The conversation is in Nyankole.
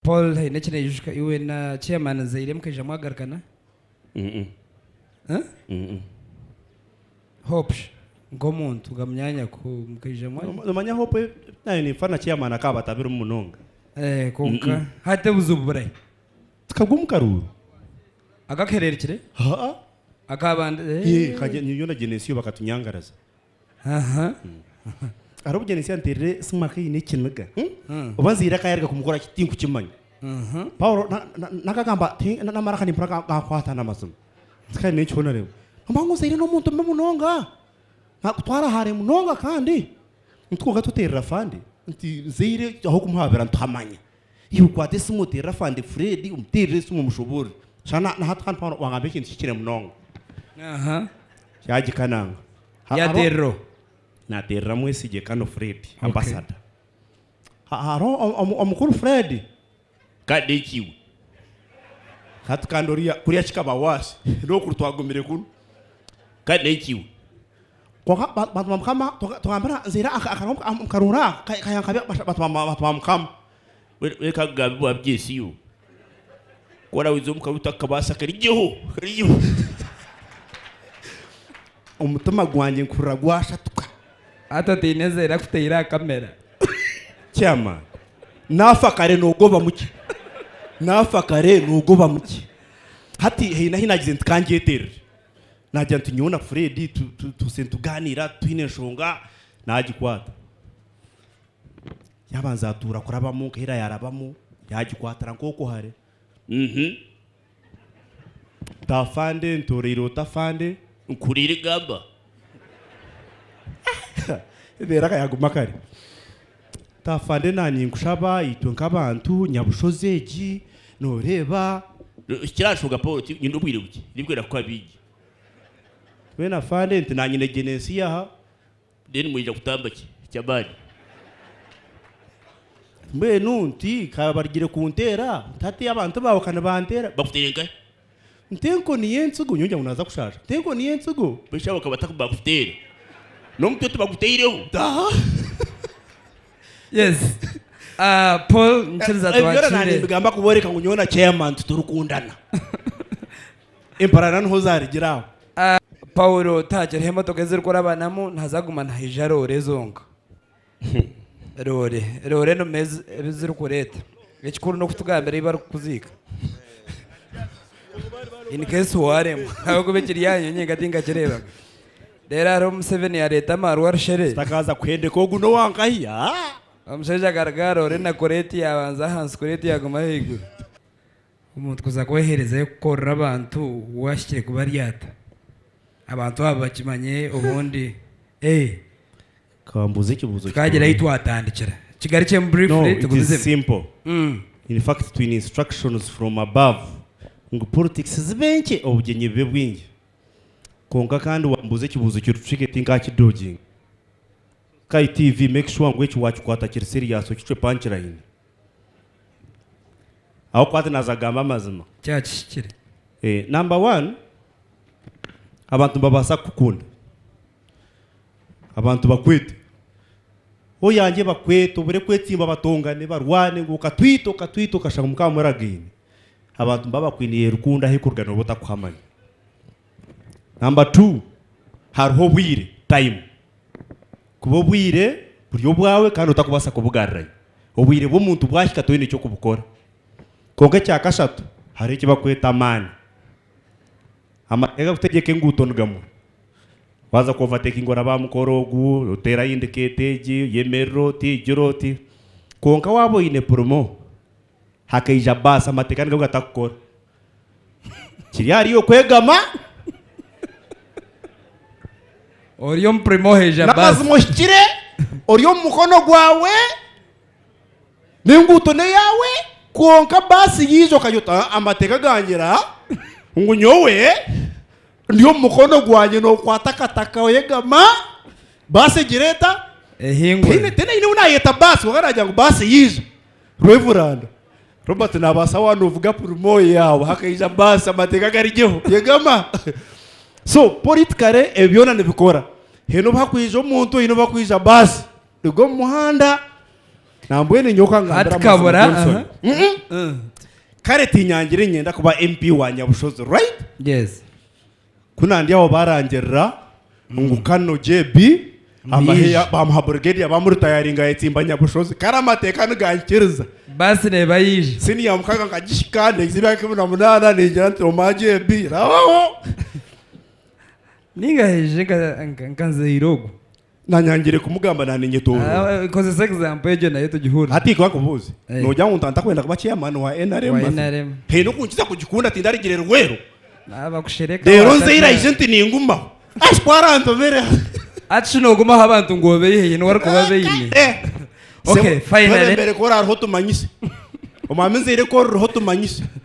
Paul haine eki naijuka iwe na chairman Nzaire mukaija mwagarukana? Huh? Hope shi nk'omuntu nga munyaanya ku mukaija mwa. Nomanya Hope naanye ninfa na chairman akaba batabirimu munonga. Eh konka hati obuzibu burahi? Tikagwe omu karuuru. Akakuhererekire? Haa. Akaba nde? Yee kanye nyowe na Genesio bakatunyangaraza. Aharw'okugira ngu ekyanteerire Simaka aine ekiniga, oba nzaire akayaruga kumukora ki tinkukimanya. Paulo n'akagamba ati, Naamara kandi mpora gaakwata n'amazima. Tihariho eki hoona reeba. Noomanya ngu nzaire n'omuntu mubi munonga, naakutwara haare munonga kandi nitugaruka tuteerera afande nti nzaire ahabw'okumuhabura nituhamanya. Iwe okwata esimu oteerere afande Fred, omuteerere esimu omushoboorore. Shana na- na hati hanu hanu wangamba ekintu kihikire munonga. Aha. Kyagika nanga. Ha- haro- Yateerero. Nateerera mwesigye Kano Fred, ambassador. Ha- Haro o- omu- omukuru Fred. Kade ki iwe. Hati kandi oriya kuriya kikaba waasi. N'okuri twagumire kunu. Kade ki iwe. Kwonka bantu ba mukama tugambira nzire akaro nkarora kayankabi bantu ba mukama. Reka kugambe bwa byesi yo kora wiza omukaro utakabasa karijeho karijeho omutima gwangye nkurira gwashatuka. Hati otaine nzera kuteire aha camera. Kyama nafa kare nogobamu ki nafa kare nogobamu ki hati haine ahi nagize nti kangyeterere Naagira nti, Nyowe na Fred tutuuse nitugaaniira twine enshonga. Naagikwata. Yaabanza atuura kurabamu nka ira yaarabamu, yaagikwatira nk'okwo hare. Uhu. Nta afande, ntooreire ota afande? Nkuririgamba. Ebeere akayaguma kare. Afande na ninkushaba itwe nkabantu nyabushozi egi noreba. Ekirashoga Paul ki nyine obwire bukye ndikwenda kukuha bingi. Then Afande nti nanye negyenda ensi yaha. Then mwija kutamba ki kyamani. Mbwenu nti kabarugire kuntera ntateyo abantu bawe kanibantera bakutera nkahi. Ntenko niyo entsigo nyowe ngira ngu naaza kushaasha Ntenko niyo entsigo beitu sha bakaba bataku bakuteera N'omutwe tibaguteireho Taaha Yes Ah Paul nikiriza Ebi byona twakire nanimbigamba kubooreka ngu nyowe na chairman titurikundana Emparana niho zaarigire aho. Paulo tahakireho emotoka ezirikurabanamu nihaza kuguma nihaija roore zonka. Loore loore eno meezi ebi zirikureeta. Ekikuru n'okutugambira ei barikukuziika. In case waaremwa ahabw'okuba ekiri aha nyoonyi nka tinkakireeba. Reero hariho Museveni yaareeta amaarwa aha rushere. Sitakaza kuhendeka ogu n'owa nkahi aa! Omushaija akaruga aha loore na kureeti yaabanza ahansi kureeti yaaguma ahaiguru. Omuntu kuza kweherezayo kukorera abantu wu ahikire kubaryata. Abantu abo bakimanye obundi. Eeh! Kambuuze ekibuuzo kikuru. Twagira ahi twatandikira. Kigarukyemu briefly tugumizeho. No, it is simple. In fact twine instructions from above ngu politics zibe nkye, obugyenyi bube bwingi. Kwonka kandi wambuuza ekibuuzo kiri tricky tinkakidodginga. Sky TV make sure ngu eki wakikwata kiri serious okicwe punchline. Ahabw'okuba hati naaza kugamba amazima. Kyakihikire. Number one, abantu nibabaasa kukukunda. Abantu bakwete oyangye bakwete obure kwetsimba batongane barwane ngu okatwita okatwita okashanga mukaba muragaine abantu niba bakwiniye rukundo ahu ekuruga noba otakuhamanya. Number two hariho obwire, time, kuba obwire buri obwawe kandi otakubasa kubugarirayo obwire bw'omuntu bwahika toyine ekyokubukora. Konka ekya kashatu hariho ekibakweta amaani. Amateeka gakutegyeka enguuto ni gamwe. Waaza ku overtakinga oraba aha mukora ogu, oteera aha indicator egi, oyemerera oti, oigira oti. Kwonka waaba oine purimo, hakaija baasi amateeka nigo gatakukora. Kiri ahari iwe kwegama. Ori omu purimo haija baasi. N'amazima ohikire, ori omu mukono gwawe. N'enguuto n'eyaawe, kwonka baasi yaija okayota amateeka gangira ngu nyowe ndi omu mukono gwangye nookwata akataka oyegama baasi egira eta? Ehingura. Tihaine tihaine aine ou naayeta baasi kwonka naagira ngu baasi yaija. Rweburanda, Robert naabaasa waaba noovuga purimoye yaawe hakaija baasi amateeka garigyeho yegama. So, politikare ebyo byona nibikora. Haine obu hakwija omuntu haine obu hakwija baasi. Ndi omu muhanda nambwenu nyowe okangambira Tikabura, amazima Johnson. aha. Mhm. Mm. kare tinyangire nyenda kuba mp wa nyabushozi right Yes. kunandi aho barangirira ngu kano jb amahe Nije. ya- bamuha brigadier bamuritayaringa yetsimba nyabushozi kare amateeka nigankiriza Basi neba yija. siniya mukaga nkagihika neiza emyaka ikumi na munaana ningira nti oma jb rabaho Ninga hije nka- nka- nka nzeire ogu. Nanyangire kumugamba naninyetorora. Ah, kozesa example egyo nayo tugihurire. Hati ikuba nkubuuze, Eh. nogira ngu ntantakwenda kuba chairman wa NRM? Wa basi? NRM. Haine okunkiza kugikunda tindarigire Luweero. Naaba kushereka Reero waata nzeire aije nti ningumaho. Ashi ku arantobera. Hati shi noogumaho abantu ngu obeihe niwe orikuba beine. Eh. Okay, Sebo, finally. Twebembere kora hariho tumanyise. Omwami nzeire kora hariho tumanyise.